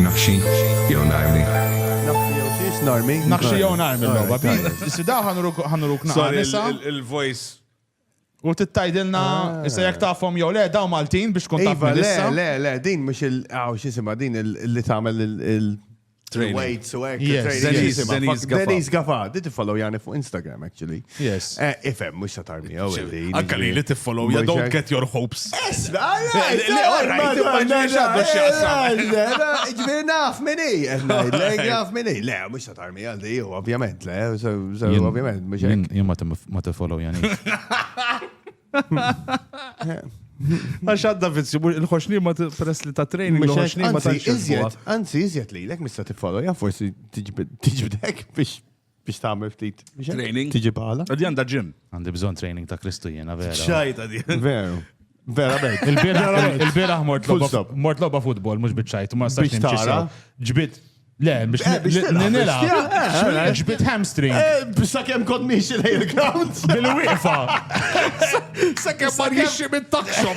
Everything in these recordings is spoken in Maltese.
Naħxi jew narmi. Naħxi jew xiex narmi. Naħxi jew narmi l-logħba. Sida ħanuruk naqra. Il-voice U tittajdilna, ah. issa jek tafhom jew le, daw Maltin biex tkun taf iva, Le, le, le, din mhux il aw ah, xisima din li tagħmel il Weights u hekk. Denise Gafa. Denise Gafa. Did follow Jani fuq Instagram actually. Yes. Eh, ifem, mux sa tarmi, għaw. Anka li li tiffollow, you don't get your hopes. Yes, Ġviri naf minni, naf minni. Le, mux sa tarmi, għaldi, ovvjament, le, ovvjament, mux għek. Jien ma tiffollow jani. Għax għadda vizzju, il-ħoxni ma press li ta' training, il-ħoxni ma ta' iżjed. Anzi, iżjed li, l-ek mista tiffollow, ja forsi tiġbidek biex biex tagħmel ftit training tiġi bħala. Għaddi għandha ġim. Għandi bżonn training ta' Kristu jiena vera. Xajta di. Veru. Vera bejt. Il-bieraħ mort logħba futbol mhux biċċajt ma sax nimxi. Ġbit Le, biex eh, nila. Eh, ġbit hamstring. Eh, biex sa' kem kod miexi lej il-ground. Bil-wifa. Sa' kem ma' jiexi mit-takxop.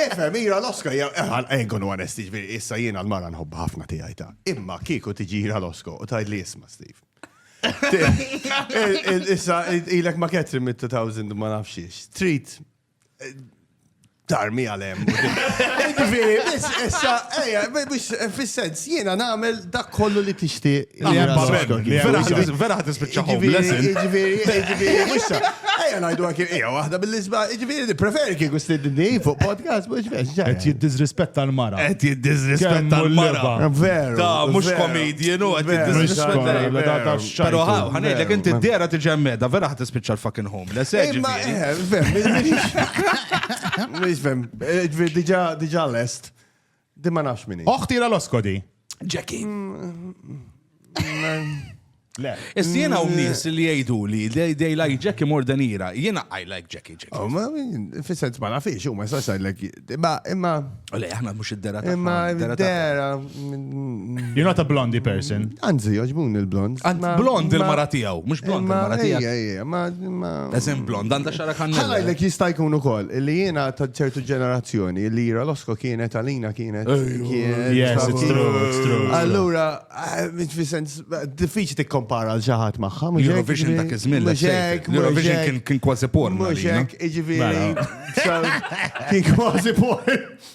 Infermiera l-oska hija għal Egon u Anesti, ġifieri issa jiena l-mara nħobbha ħafna tiegħi ta. Imma kieku tiġira l-osko u tgħidli isma' Steve. Issa ilek ma' Catherine mit-2000 ma nafxiex. Trid eh, tarmi għalem. Ġifieri, biss issa, ejja, biss eh, fis-sens Jiena nagħmel dak kollu li tixtieq. Li hemm b'hekk. Vera ħadd vera ħadd tispiċċa homeless. Jiġifieri, jiġifieri, mhux sa. Ejja ngħidu anke hija waħda bil-isba, jiġifieri nippreferi kieku stidni fuq podcast mhux vex. Qed jiddiżrispetta l-mara. Qed jiddiżrispetta l-mara. Veru. Da mhux comedian u qed jiddiżrispetta. Però ħanejlek inti d-dera tiġi hemmeda, vera ħadd tispiċċa l-fucking homeless. Imma fem, mhux fem. Diġà lest. Di ma nafx minni. Oħti la losko di. Jackie. Le. Is jena u nis li jgħidu li they like Jackie more than ira. Jena I like Jackie Jackie. Oh, ma fissent ma nafix, u ma jistax like. Imma, imma. U le, aħna mux id-dera ta' Imma id-dera. You're not a blondie person. Anzi, joġbun il-blond. Blond il-mara tijaw, mux blond il-mara tijaw. Eżem blond, għanda xara kannella. Għala jlek jista' jkun ukoll li jiena ta' ċertu ġenerazzjoni li jira l-osko kienet għalina kienet. Allura, fi sens, diffiċi tikkompara għal ġaħat maħħa. Eurovision ta' kizmin, Eurovision kien kważi porn. Muxek, iġviri. Kien kważi porn.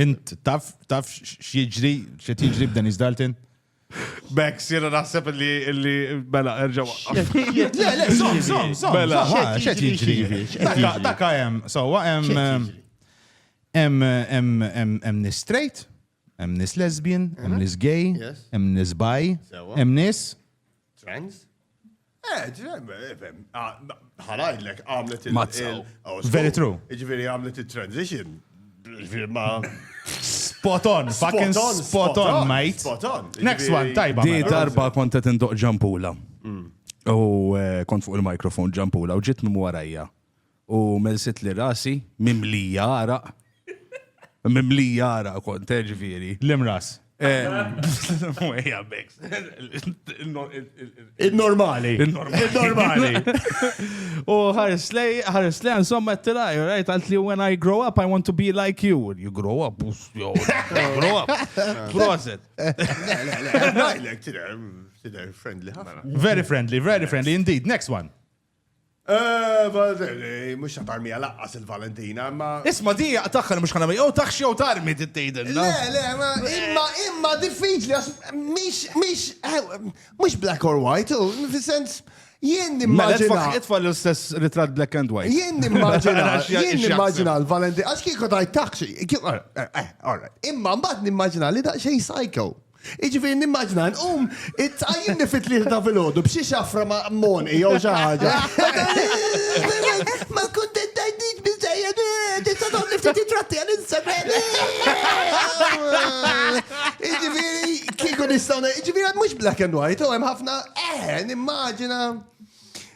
Int taf taf x'jiġri x'qed jiġri b'Dennis Dalton? Bex, jena naħseb li li bela mela, erġaw. Le, le, som, som, som. Bela, xed jiġri. Daka hemm, sowa hemm hemm nis straight, hemm nis lesbian, hemm nis gay, hemm nis bi, hemm nis Trans? Eh, ħalajdlek għamlet il- oh, Very true. Ġviri għamlet il-transition. Ġviri ma. Spot on, fucking spot on, mate. Spot on. Next one, tajba. Di mela. darba konta tindoq ġampula. Mm. U eh, kont fuq il-mikrofon ġampula u ġit minn warajja. U melsitli rasi, mimlija għaraq. Mimlija għaraq kont, eh, ġifieri. L-imras. Ejja, beks. Il-normali. Il-normali. U ħarslej, ħarslej, insomma, t-tilaj, right? Għalt li when I grow up, I want to be like you. When you grow up, us, yo, grow up. Proset. Very friendly, very friendly, indeed. Next one. Mux ta' tarmija laqqas il-Valentina, imma. Isma di jaqtaħħa li mux ħana jew taħx jew tarmi tittejdin. Le, le, imma imma diffiċli għax mix mix mux black or white, fil-sens jien nimmaġina. Itfa l-istess ritrat black and white. Jien nimmaġina, jien nimmaġina l-Valentina, għax kieku tajt taħx, all right, imma mbagħad nimmaġina li daqxej psycho. Jiġifieri nimmaġina nqum tqajjimni fit-tlieta ta' filgħodu b'xi xafra ma' monqi jew xi ħaġa. Ma kkuntentajtnix biżżejjed, tista' tagħmli ftit ritratti għal Instagram. Jiġifieri kieku nistgħu jiġifieri mhux black and white, hemm ħafna eh nimmaġina.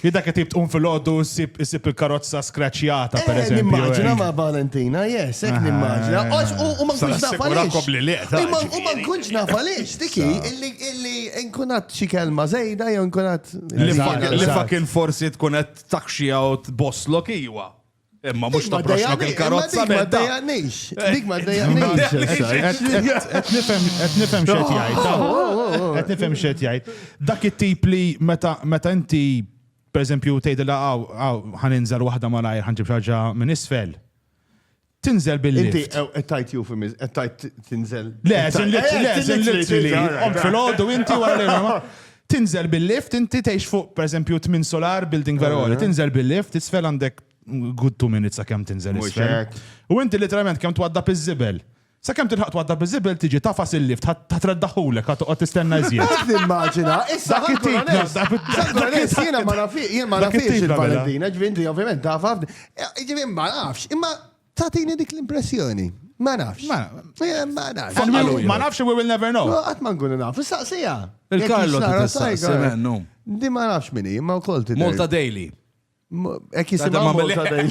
Li dak qed tqum fil-għoddu ssib il-karozza skraċjata per eh, eżempju. Immaġina eh. ma' Valentina, yes, hekk eh, nimmaġina. U ma nkunx naf għaliex. U ma nkunx naf għaliex, tiki, illi nkunat xi kelma żejda jew nkunat. Li fa kien forsi tkun qed takxija u tbosslok iwa. Imma mhux toproxlok il-karozza ma dejaqnix. Dik ma dejaqnix. Qed nifhem qed nifhem x'qed jgħid. Qed nifhem x'qed jgħid. Dak it-tip li meta meta inti pereżempju tgħidilha hawn hawn ħaninżel waħda malajr ħanġib xaġa minn isfel. Tinżel billi. Inti qed tajt jew fimiz, qed tajt tinżel. Le, żin litri, le, żin litri li. Qom fil-għodu inti wara li Tinżel bil-lift, inti tgħix fuq pereżempju tmien solar building vera għoli, tinżel bil-lift, isfel għandek good two minutes sa kemm tinżel isfel. U inti literalment kemm twadda iż-żibel. Sa kemm tilħaq twadda iż-żibel tiġi tafas il-lift, ħadd treddaħħulek, ħadd toqgħod tistenna iżjed. Immaġina, issa dak it-tip jiena ma nafix il-Valentina, ġvinti ovvjament tafaf. Ġivi ma nafx, imma Tatini dik l-impressjoni. Ma nafx. Ma eh, nafx. Ma nafx, we will never know. Għat ma nkunu naf. Saqsija. Il-Karlo t-saqsi mennu. Di ma nafx minni, ma u kol t Molta Daily. Ek jisima Molta Daily.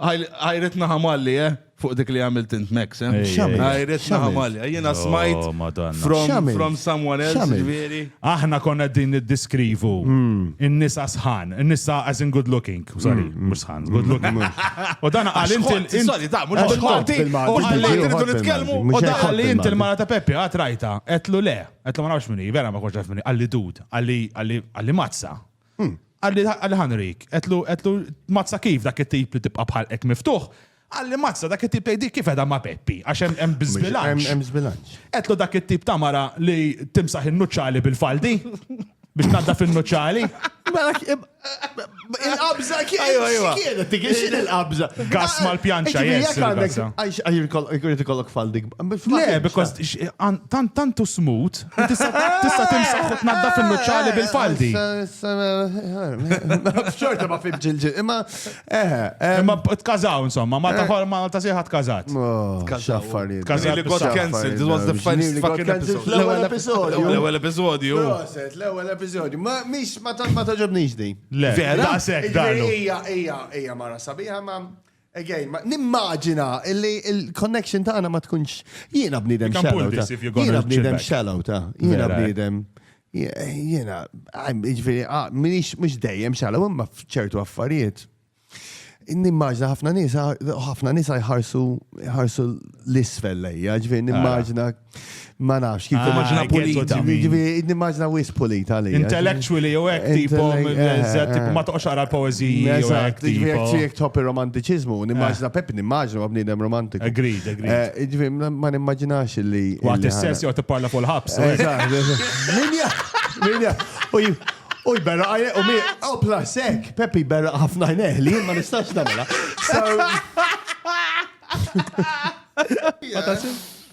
Għajret naħamalli, eh? Fuq dik li għamilt int Max, eh? Għajret naħamalli. Eh, Jena smajt oh, from someone else, ġviri. Aħna konna din id-diskrivu. Hmm. In-nisa sħan. In-nisa as in good looking. Sorry, hmm. mux sħan. Good hmm. looking. U dan għal inti. Sorry, da, mux għal-ħati. U għalli rridu nitkellmu. U dan għalli inti l-mara ta' Peppi għatrajta. Etlu le. Etlu ma nafx minni. Vera ma konċaf minni. Għalli dud. Għalli mazza. Hmm. Għalli għalli ħanrik, għetlu għetlu mazza kif dak it-tip li tibqa bħal ek miftuħ, għalli mazza dak it-tip tgħidi kif edha ma' Peppi, għax hemm hemm biżbilanċ. Hemm żbilanċ. Għetlu dak it-tip ta' mara li timsaħ in-nuċċali bil-faldi biex nadda fin-nuċċali. Mela, Il-qabża Ajwa, ajwa. kienet, dik x'in il-qabża. Gass mal-pjanċa, Ġifieri, jess, jekk għandek- il-gass. Għax għax jkollok faldik. Le, because x- għan- tant tantu smut Tista' timsaħ u tnaddaf in-nuċċali bil-faldi. Xorta ma fimx il-ġi. Imma eħe. Imma tkażaw insomma, Malta eh. ħol Malta sieħa tkażat. X'affarijiet. Tkażat li got cancelled. It was the first fucking episode. L-ewwel episodju. L-ewwel episodju. L-ewwel episodju. Ma mhix ma toġobnix din. Le. Vera? Daqshekk dalu. Hija hija hija mara sabiħa ma Again, ma nimmaġina illi il-connection tagħna ma tkunx jiena bniedem You can shallow. pull this ta. if you're gonna Jiena chill bniedem back. shallow ta. Jiena Vera, eh? bniedem. Jiena, għajm, ġifieri, ah, minix mhux dejjem shallow imma f'ċertu affarijiet. Nimmaġina ħafna nies, ħafna nies jħarsu jħarsu l-isfel lejja, ġifieri nimmaġina Ma nafx, kif immaġina ah, pulita. Nimmaġina wis pulita li. Intellectually jew hekk tipo eh, ma toqgħodx ara l-poeżiji jew hekk tipo. Jekk jekk top ir-romantiċiżmu, nimmaġina eh. Peppi nimmaġina ma bniedem romantiku. Agreed, eh, agreed. Ġifieri ma nimmaġinax li. Waqt is-sess jew tipparla fuq il-ħabs. Minja, minja. U jberra għajne, u mi, u oh, plasek, Peppi jberra ħafna għajne, li ma nistax namela.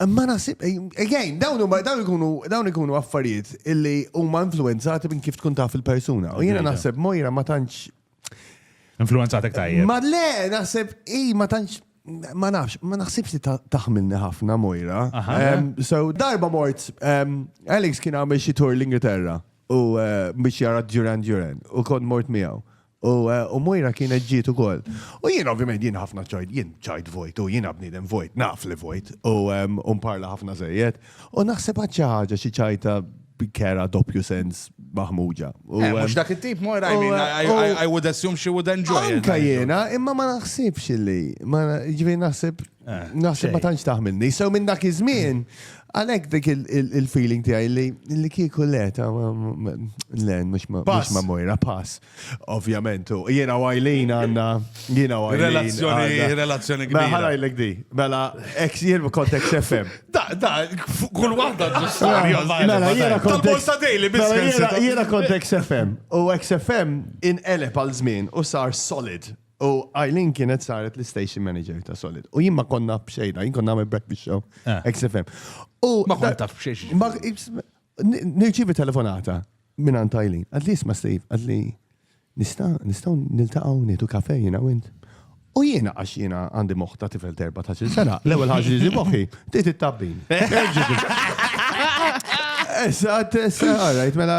Ma nasib, again, dawn huma dawn ikunu dawn ikunu affarijiet illi huma influenzati minn kif tkun taf il-persuna. U jiena naħseb Mojra ma tantx. Influenzatek tajjeb. Ma le, naħseb i ma tantx ma nafx, ma naħsibx li taħmilni ħafna Mojra. So darba mort, Alex kien għamil xi tour l-Ingilterra u eh, biex jara Duran Duran u kont mort miegħu. U Mojra kienet ġiet ukoll. U jien ovvjament jien ħafna ċajt, jien ċajt vojt, u jien bniedem vojt, naf li vojt, u mparla ħafna żejjed. U naħseb għad xi ħaġa xi ċajta kera doppju sens maħmuġa. Eh, mhux dak it-tip Mojra, I would assume she would enjoy. Anka jiena, imma ma naħsibx li, ġifieri naħseb Eh, Naħseb ma tantx taħmilni. Sew minn dak iż-żmien, għalhekk dik il-feeling tiegħi li kieku le ta' len mhux ma' mojra pass. Ovvjament, jiena għajlin għandna jiena għajlin. Relazzjoni, relazzjoni kbira. Mela ħarajlek di. Mela ex jien kont ex FM. Da, da, kull waħda ġustarja. Mela, mela jiena kont ex mela, Jiena kont ex FM. U ex FM inqeleb għal żmien u sar solid. U Eileen kienet saret l-station manager ta' Solid. U jien ma konna bxejda, jien konna għamil breakfast show, eh. XFM. U ma konna taf bxejx. Nirċivi telefonata minn għan Eileen. Għadli jisma Steve, għadli nista' nistaw niltaqaw nitu kafe jina wint. U jiena għax jiena għandi moħta tifel terba ta' sena, l-ewel ħagġi li moħi, tit it-tabbin. Eżat, eżat, għarajt, mela,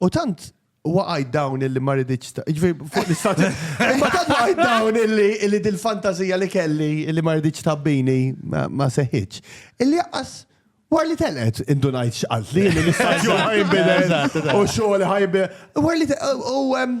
U tant waqajt dawn illi ma rridx ta' ġifieri fuq l-istat. Imma tant waqajt dawn illi illi dil-fantażija li kelli illi ma rridx tabbini ma ma seħħitx. Illi jaqqas war li telqet indunajt x'qaltli illi l-istaġun ħajnbidel Eżatt, eżatt. u xogħol ħajbi. War li te- u em,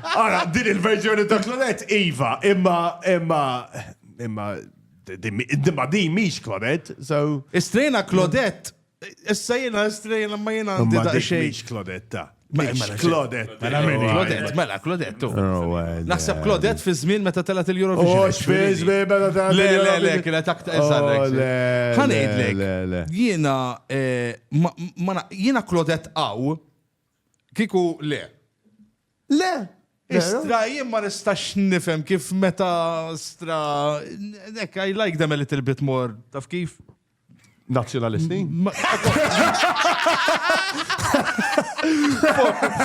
Ara, din il-verżjoni ta' Claudette, Iva, imma, imma, imma, imma din miex Claudette, so. Istrejna Claudette, issa jena istrejna ma jena għandi da' xej. Miex Claudette, miex Claudette. Mela, mela, Claudette, mela, Claudette. Oh, Naħseb Claudette fi żmien meta telat il-Eurovision. Oh, fi żmien meta telat. Le, le, le, kienet aktar eżarrek. Oh, Ħanejdlek, jena, eh, jena Claudette għaw, kiku le. Le! Istra, jien ma nistax nifhem kif meta stra. Nek, I like them a little bit more. Taf kif? Nazzjonalisti?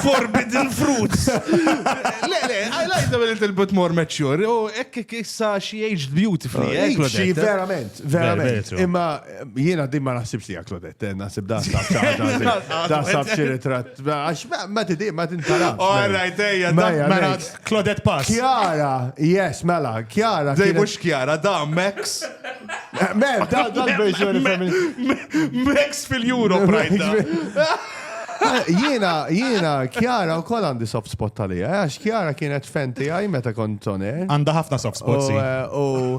Forbidden fruits. Le, le, I like them a little bit more mature. U oh, ekk issa she aged beautifully. Xi eh, eh, verament, verament. Imma Jiena din ma naħsibx li Claudette, eh, naħseb da sab xi ritratt. Għax ma tidi, ma tintara. All right, ejja, mela Claudette Pass. Kjara, yes, mela, Kjara. Dej mux Kjara, da Max. Mem, da l-verżjoni femminili. Max fil-Euro, prajda. Jiena, jiena, Kjara u kol għandi soft spot tal-ija, eh, għax Kjara kienet fenti għaj meta kont toner. Għanda ħafna soft spot, si. Eh, u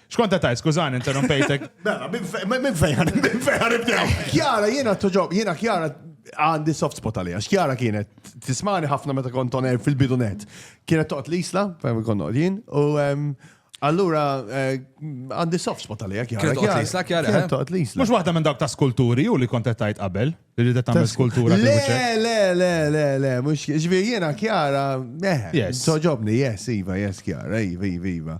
Xkont ta' skużani, interrompejtek. Bella, minn fejħan, minn fejħan ibdew. Kjara, jena toġob, jena kjara għandi soft spot għalija. Xkjara kienet, tismani ħafna meta kont oner fil-bidunet. Kienet toqt l-isla, fejn kont jien, u allura eh, għandi soft spot għalija. Kienet toqt l-isla, kjara. Kienet eh? toqt l-isla. Mux waħda minn dawk ta' skulturi u li kont tajt qabel, li rridet tagħmel skultura. Le, le, le, le, le, mux ġvi jena kjara, eh, toġobni, yes, iva, yes, kjara, iva, iva, iva.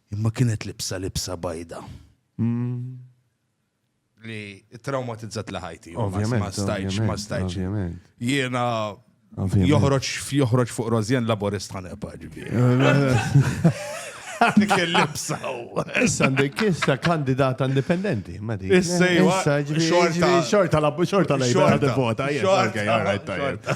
Imma kienet libsa libsa bajda. Li traumatizzat li ħajti. Ovvjament. Ma stajċ, ma stajċ. Jiena joħroġ joħroġ fuq Rozjen laborist ħanepa ġifieri. Dik il-libsa. Issa għandek issa kandidata indipendenti, ma dik. Issa xorta xorta la xorta la xorta vota. Xorta, xorta.